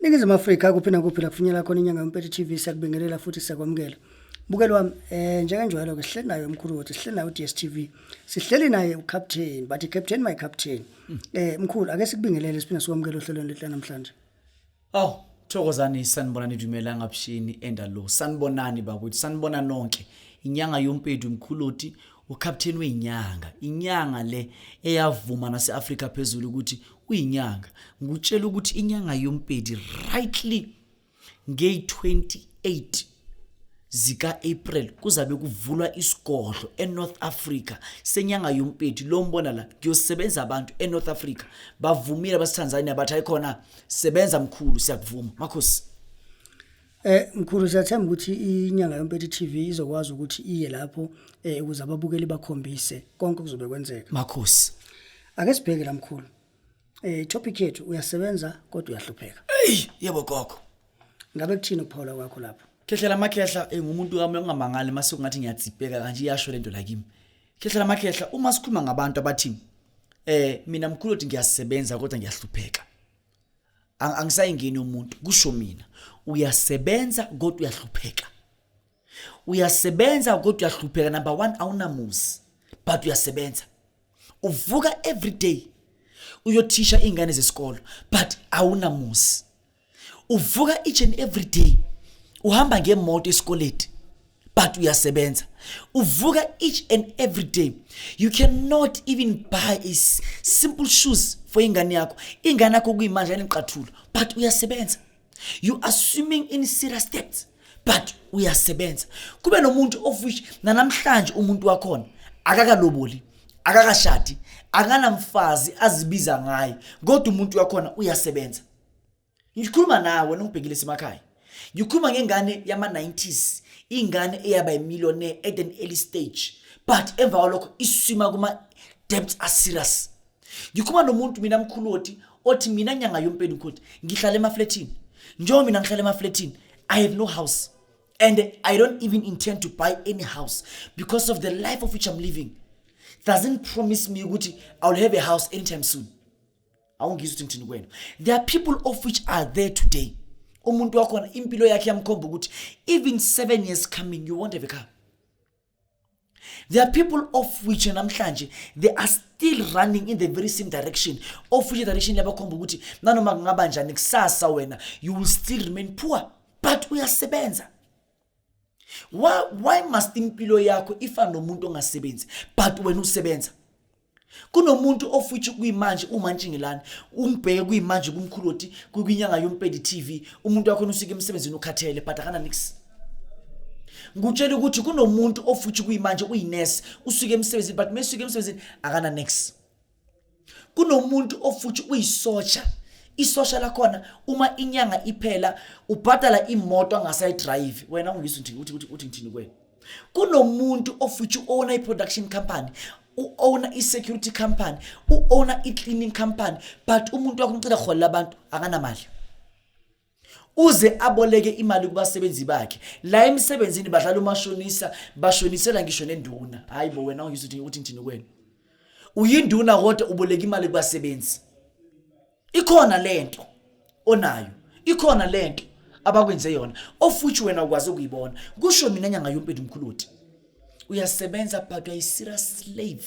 Ningizimu Afrika kuphi nakuphi la kufinyela khona inyanga yompethe TV siyakubingelela futhi siyakwamukela. Bukelo wami eh njengenjwayelo ke sihleli naye umkhulu wethu sihleli naye uDSTV sihleli naye ucaptain but captain my captain eh mkhulu ake sikubingelele siphinde sikwamukele ohlelweni lethu namhlanje Aw, thokozani sanibonani dumela ngabushini endalo. Sanibonani bakwethu, sanibona nonke. Inyanga yompethu mkhuloti ukapteni weyinyanga inyanga le eyavuma nase-afrika phezulu ukuthi uyinyanga ngikutshela ukuthi inyanga yompedi rightly ngeyi-28 zika-april kuzabe kuvulwa isigodlo enorth africa senyanga yompedi lo mbona la ngiyosebenza abantu enorth africa bavumile abasetanzania bathi ayikhona sebenza mkhulu siyakuvuma makhosi Eh mkhulu siyathemba ukuthi inyanga yompethu TV izokwazi ukuthi iye lapho eh ukuze ababukeli bakhombise konke kuzobe kwenzeka. Makhosi. Ake sibheke la mkhulu. Eh topic yethu uyasebenza kodwa uyahlupheka. Ey yebo gogo. Ngabe kuthini ukuphawula kwakho lapho? Khehlela makhehla eh, ngumuntu kami ongamangali mase kungathi ngiyatsipeka kanje iyasho lento la kimi. Khehlela makhehla uma sikhuluma ngabantu abathini eh mina mkhulu uthi ngiyasebenza kodwa ngiyahlupheka. angisayingeni umuntu kusho mina uyasebenza kodwa uyahlupheka uyasebenza kodwa uyahlupheka number one awunamuzi but uyasebenza uvuka every day uyothisha iy'ngane zesikolo but awunamuzi uvuka each and every day uhamba ngemoto esikoleti but uyasebenza uvuka each and every day you cannot even buy a simple shoes for ingane yakho ingane yakho kuyimanje aniqathula but uyasebenza you are swimming in serious steps but uyasebenza kube nomuntu of which nanamhlanje umuntu wakhona akakaloboli akakashadi akanamfazi azibiza ngaye kodwa umuntu wakhona uyasebenza Ngikhuluma nawe wena ungibhekile semakhaya. Ngikhuluma ngengane yama-90s, ingane eyaba imillionaire at an early stage but emva kwalokho iswima kuma-debts aserious. Ngikhuluma nomuntu mina mkhulu othi othi mina nyanga yompeni ukuthi ngihlala emaflethini. Njengoba mina ngihlala emaflethini, I have no house and I don't even intend to buy any house because of the life of which I'm living doesn't promise me ukuthi I'll have a house anytime soon. awungizwa ukuthi ngithini kwena there are people of which are there today umuntu wakhona impilo yakhe yamkhomba ukuthi even seven years coming you won't have a car there are people of which namhlanje they are still running in the very same direction of which direction yabakhomba ukuthi nanoma kungaba njani kusasa wena you will still remain poor but uyasebenza why, why must impilo yakho ifane nomuntu ongasebenzi but wena usebenza kunomuntu ofuthi kuyimanje umantshingelani umbheke kuyimanje kumkhulu oti kwinyanga yompedi TV umuntu wakho usike emsebenzini ukhathele but akana nix ngutshela ukuthi kunomuntu ofuthi kuyimanje uyinurse usuke emsebenzini but mesuke emsebenzini akana nix kunomuntu ofuthi uyisosha isosha lakhona uma inyanga iphela ubhadala imoto angasayidrayivi wena ungizwa nje ukuthi ukuthi uthi ngithini kwena kunomuntu ofuthi owona i-production company u-owner i-security company u-owner i-cleaning company but umuntu wakho umcela holela abantu akanamali uze aboleke imali kubasebenzi bakhe la emsebenzini badlala umashonisa bashonisela ngisho nenduna hayi bo wena ungizwe ukuthi ukuthi ngithini kwena uyinduna kodwa uboleka imali kubasebenzi ikhona lento onayo ikhona lento abakwenze yona ofuthi wena ukwazi ukuyibona kusho mina nyanga yompethu mkhuluthi uyasebenza but uyayi-serious slave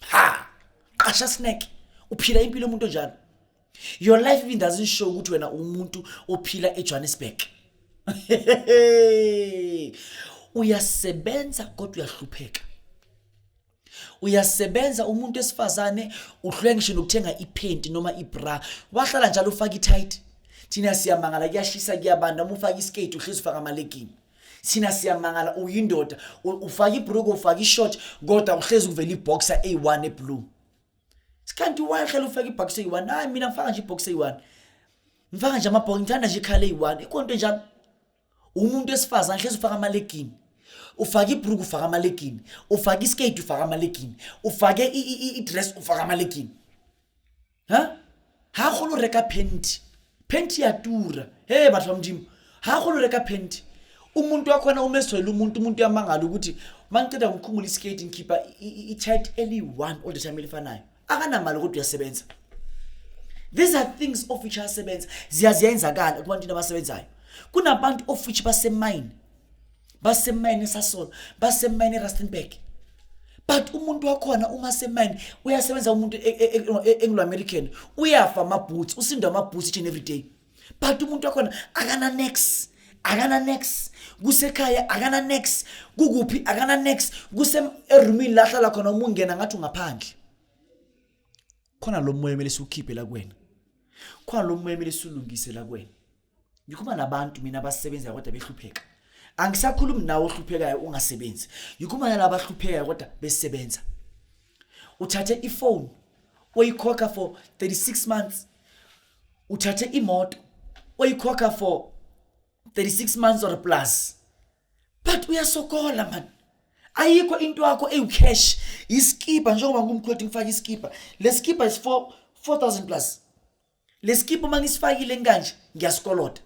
ha qasha snack uphila impilo umuntu onjalo your life even doesn't show ukuthi wena umuntu ophila eJohannesburg uyasebenza kodwa uyahlupheka uyasebenza umuntu esifazane uhlule ngisho nokuthenga iphenti noma ibra wahlala njalo ufaka itight thina siyamangala kuyashisa kuyabanda uma ufaka iskate uhlezi ufaka amalegini Sina siyamangala uyindoda ufaka ibruku ufaka ishort kodwa uhlezi kuvela iboxer A1 eblue. Sikanti why khela ufaka iboxer A1? Hayi mina ngifaka nje iboxer A1. Ngifaka nje amabhox ngithanda nje ikhala A1. Ikonto njalo. Umuntu esifazana hlezi ufaka amalegini. ufake ibruku ufake amalegini ufake iskate ufake amalegini ufake i-dress ufake amalegini ha ha golo reka penti penti ya tura he batho ba modimo ha golo reka penti umuntu wakhona umeswele umuntu umuntu uyamangala ukuthi mangiqeda ngikhumula iskate ngikhipha i-chat eliyi-one all the time elifanayo akanamali kodwa uyasebenza these are things of which asebenza ziyaziyenzakala kubantwini abasebenzayo kunabantu of which basemayini basemayini esasolo basemayini erustenburg but umuntu wakhona uma semayini uyasebenza umuntu e, e, e, englo-american uyafa amabhoots usindwa amabhoots each and every day but umuntu wakhona akananex akananex kusekhaya akananex kukuphi akananex kuserumini la hlala khona uma ungena ngathi ungaphandle khona lo moya kumele siwukhiphe la kuwena khona lo moya kumele siwulungise la kuwena ngikhuluma nabantu mina abasebenzayo kodwa behlupheka angisakhulumi nawe ohluphekayo ungasebenzi ngikhuluma nalabo abahluphekayo kodwa besebenza uthathe ifone oyikhokha for 36 months uthathe imoto oyikhokha for 36 months or plus but uyasokola man ayikho into yakho eyicash iskipa njengoba ngumkhwethi ngifaka iskipa lesikipa is 4 4000 plus lesikipa uma ngisifakile kanje ngiyasikolota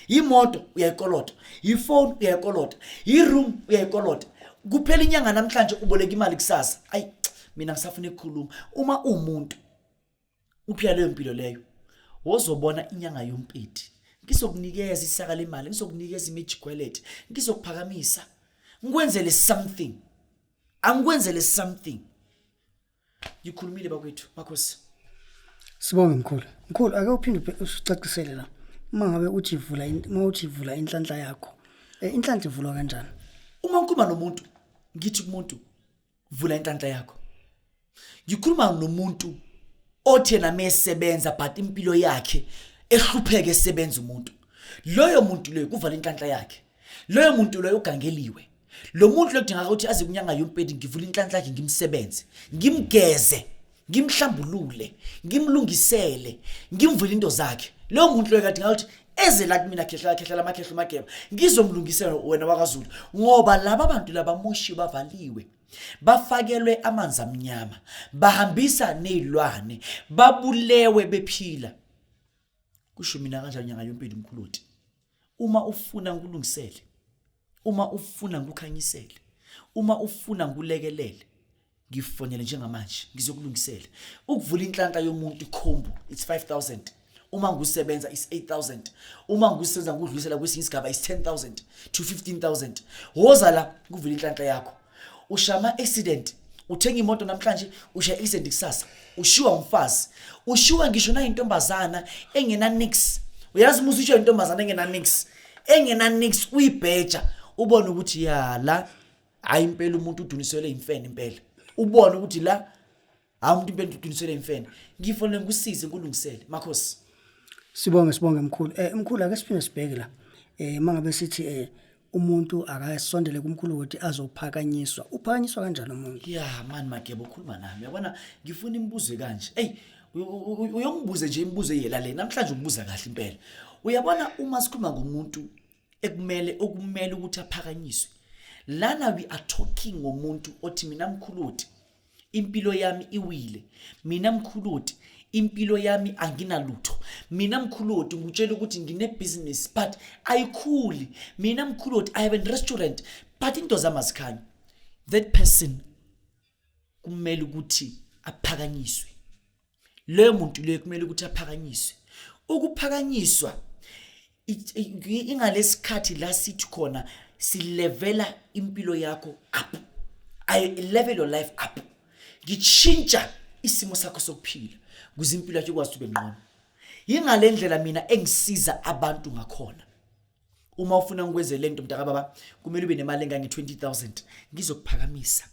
imoto uyayikolota ifoni uyayikolota iroom uyayikolota kuphela inyanga namhlanje uboleka imali kusasa ayi mina ngisafuna ekukhuluma uma umuntu uphila leyo mpilo leyo wozobona inyanga yompiti ngizokunikeza isaka lemali ngizokunikeza imijigwelete ngizokuphakamisa ngikwenzele something angikwenzele something ngikhulumile bakwethu makhosi sibonge mkhulu mkhulu ake uphinde ucacisele la uma ngabe uthi vula uma uthi vula inhlanhla yakho eh, inhlanhla ivulwa kanjani uma ngikhuluma nomuntu ngithi kumuntu vula inhlanhla yakho ngikhuluma nomuntu othe nami esebenza but impilo yakhe ehlupheke esebenza umuntu loyo muntu loyo kuvala inhlanhla yakhe loyo muntu loyo ugangeliwe lo muntu lodingaka ukuthi aze kunyanga yompedi ngivule inhlanhla yakhe ngimsebenze ngimgeze ngimhlambulule ngimlungisele ngimvule into zakhe loyo muntu loyo kadingaka ukuthi eze la kumina khehla khehla lamakhehla mageba ngizomlungisela wena wakazulu ngoba laba bantu labamoshiwe bavaliwe bafakelwe amanzi amnyama bahambisa nezilwane babulewe bephila kusho mina kanjani nyanga yompilo umkhuloti uma ufuna ngikulungisele uma ufuna ngikukhanyisele uma ufuna ngikulekelele ngifonele njengamanje ngizokulungisela ukuvula inhlanhla yomuntu ikhombo it's 5000 uma ngusebenza is 8000 uma ngusebenza ngudlulisela kwesinye isigaba is 10000 to 15000 woza la kuvula inhlanhla yakho ushama accident uthenga imoto namhlanje usha accident kusasa ushiwa umfazi ushiwa ngisho nayintombazana engena nix uyazi musa ushiwa intombazana engena nix engena nix uyibheja ubone ukuthi ya la hayi impela umuntu udunisele imfene impela ubone ukuthi la hawu umuntu impela uqinisele imfene ngifonele ngikusize nkulungisele makhosi Sibonge sibonge mkhulu. Eh mkhulu ake siphinde sibheke la. Eh mangabe sithi eh umuntu akasondele kumkhulu ukuthi azophakanyiswa. Uphakanyiswa kanjani umuntu? ya mani mageba ukhuluma nami yabona ngifuna imibuzo kanje eyi u- u- u- uyongibuze nje imibuzo eyela le namhlanje ubuza kahle impela uyabona uma sikhuluma ngomuntu ekumele okumele ukuthi aphakanyiswe lana we are talking ngomuntu othi mina mkhuluti impilo yami iwile mina mkhuluti impilo yami anginalutho mina mkhuloti ngutshela ukuthi ngine-business but ayikhuli mina mkhuloti i have a restaurant but into zami azikhanye that person kumele ukuthi aphakanyiswe leyo muntu leyo kumele ukuthi aphakanyiswe ukuphakanyiswa ingalesikhathi la sithi khona silevela impilo yakho up i level your life up ngitshintsha isimo sakho sokuphila kuze impilo yakho ikwazi ube ngqono yingale ndlela mina engisiza abantu ngakhona uma ufuna ngikwenze lento mntaka baba kumele ube nemali engange 20000 ngizokuphakamisa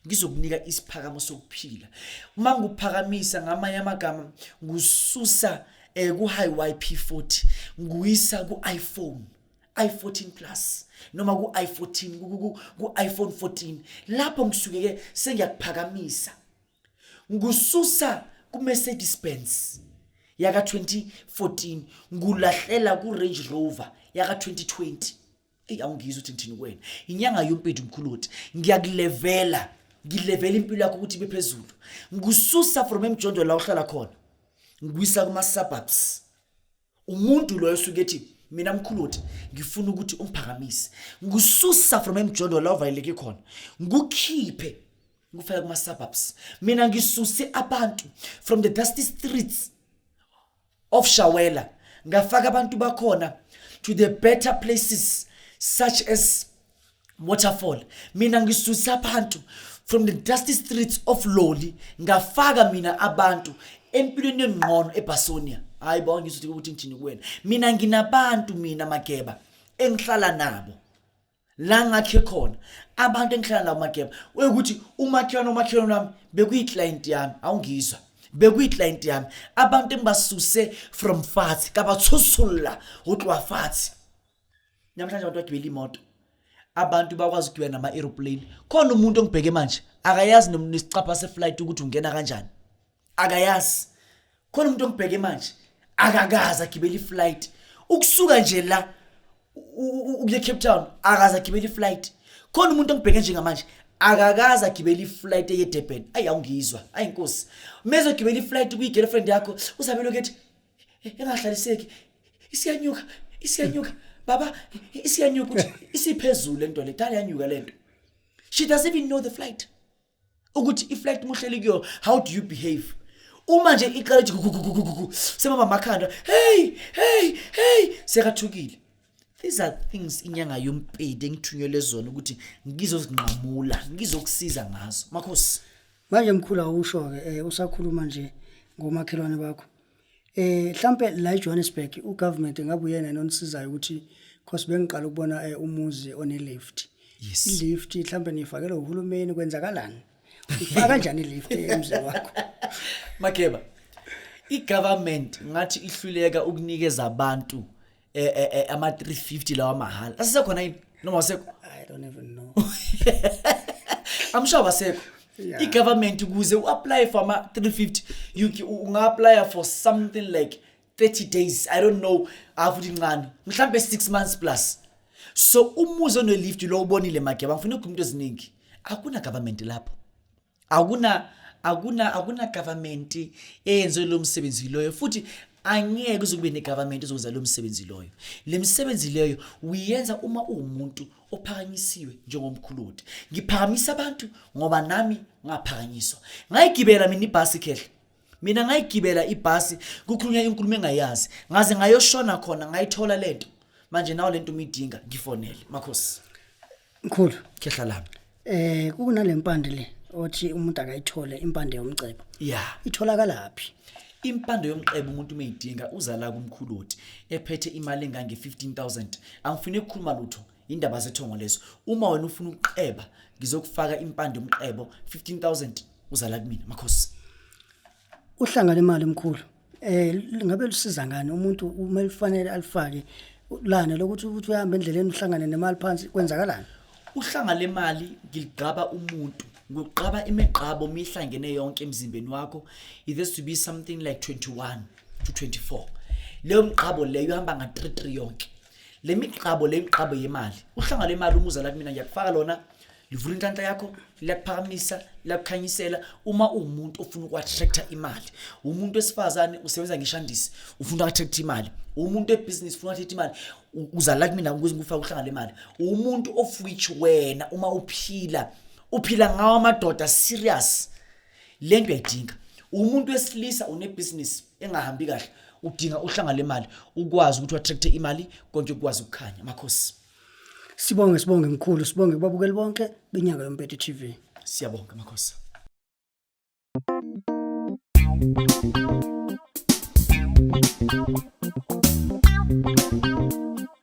ngizokunika isiphakamo sokuphila uma ngikuphakamisa ngamanye amagama ngususa eh ku high YP40 nguyisa ku iPhone i14 plus noma ku i14 ku iPhone 14 lapho ngisuke ke sengiyakuphakamisa ngususa kuMercedes Benz yaka 2014 ngulahlela kuRange Rover yaka 2020 eyi awungizwa ukuthi ngithini kuwena inyanga yompethu mkhulu wothi ngiyakulevela ngilevela impilo yakho ukuthi ibe phezulu ngikususa from emjondolo la uhlala khona ngikuyisa kuma-suburbs umuntu loyo suke ethi mina mkhuluthi ngifuna ukuthi ungiphakamise ngikususa from emjondolo la uvaleleke khona ngikukhiphe ngikufaka kuma-suburbs mina ngisuse abantu from the dusty streets of shawela ngafaka abantu bakhona to the better places such as waterfall mina ngisusa abantu from the dusty streets of loli ngafaka mina abantu empilweni yengqono ebhasonia hayi bo ngizothi ukuthi ngithini kuwena mina nginabantu mina mageba engihlala nabo la ngakhe khona abantu engihlala nabo mageba ukuthi umakhelwane umakhelwane wami bekuyi-client yami awungizwa bekuyi-client yami abantu engibasuse from fathi kabathusula utlowa fathi namhlanje abantu bagibela imoto abantu bakwazi ukugibela nama-aeroplane khona umuntu ongibheke manje akayazi nesicapha seflight ukuthi ungena kanjani akayazi khona umuntu ongibheke manje akakazi agibela iflight ukusuka nje la ukuye cape town akazi agibela iflight khona umuntu ongibheke njengamanje akakaze agibele iflight eyedurban ayi awungizwa ayi nkosi mezogibela iflight kuyigirlfriend yakho usabelo kethi engahlaliseki isiyanyuka isiyanyuka baba isiyanyuka ukuthi isiphezulu lento le dala yanyuka lento she doesn't even know the flight ukuthi iflight muhleli kuyo how do you behave uma nje iqala ukuthi gugugugugugu semama makhanda hey hey hey sekathukile these are things inyanga yompedi engithunyelwe zona ukuthi ngizozinqamula ngizokusiza ngazo makhosi manje mkhulu awusho-ke um usakhuluma nje ngomakhelwane bakho um mhlampe la ejohannesburg ugovernment ngabe uyena enonisizayo ukuthi cause bengiqala ukubona um umuzi onelift yes. ilift mhlampe niyifakelwe uhulumeni kwenzakalani ufaka kanjani ilift emzini wakho mageba i-government ngathi ihluleka ukunikeza abantu eh, eh, eh, ama 350 lawa mahhala asekhona yini noma wasekho i don't even know i'm sure wasekho Yeah. i-government ukuze u-apply for ama 350 you c- u- unga-apply for something like 30 days i don't know afuthi ncane mhlawumbe 6 months plus so umuzi onelift lo ubonile mageba ngifuna ukukhuluma into eziningi akuna-government lapho akuna akuna akuna government eyenze lo msebenzi loyo futhi angeke kuze kube negovernment ezokwenza lo msebenzi loyo le misebenzi leyo uyenza uma uwumuntu ophakanyisiwe njengomkhuludi ngiphakamisa abantu ngoba nami ngaphakanyiswa ngayigibela mina ibhasi khehle mina ngayigibela ibhasi kukhulunywa inkulumo engayazi ngaze ngayoshona khona ngayithola lento manje nawo lento umidinga ngifonele makhosi mkhulu khehla lami eh kunalempande le othi umuntu akayithole impande yomcebo yeah itholakala phi impande yomqebo umuntu umeyidinga uzala kumkhuluthi ephethe imali engange 15000 angifune ukukhuluma lutho Indaba zethongo lezo. Uma wena ufuna ukuqeba ngizokufaka impande umqebo 15000 uzala kumina makhosi. Uhlanga lemali mkhulu. Eh ngabe lusiza ngani umuntu uma lifanele alifake lana lokuthi ukuthi uhambe endleleni uhlangane nemali phansi kwenzakalani? Uhlanga lemali ngilugqaba umuntu ngigqaba imigqabo mihlangene yonke emzimbeni wakho it has to be something like 21 to 24 leyo mgqabo leyo ihamba nga 3 3 yonke le migqabo le migqabo yemali uhlanga le mali umuza la kumina ngiyakufaka lona livula inhlanhla yakho liyakuphakamisa liyakukhanyisela uma uwumuntu ofuna uku-attracta imali umuntu wesifazane usebenza ngeshandisi ufuna uku-attracta imali umuntu webhizinisi ufuna uku-attracta imali uza la kumina ukuze ngikufake uhlanga le mali umuntu of which wena uma uphila uphila ngawo amadoda serious le nto uyayidinga umuntu wesilisa unebhizinisi engahambi kahle udinga uhlanga lemali ukwazi ukuthi attract imali konke ukwazi ukukhanya makhosi sibonge sibonge mkhulu sibonge kubabukeli bonke benyaka yompete TV siyabonga makhosi Thank you.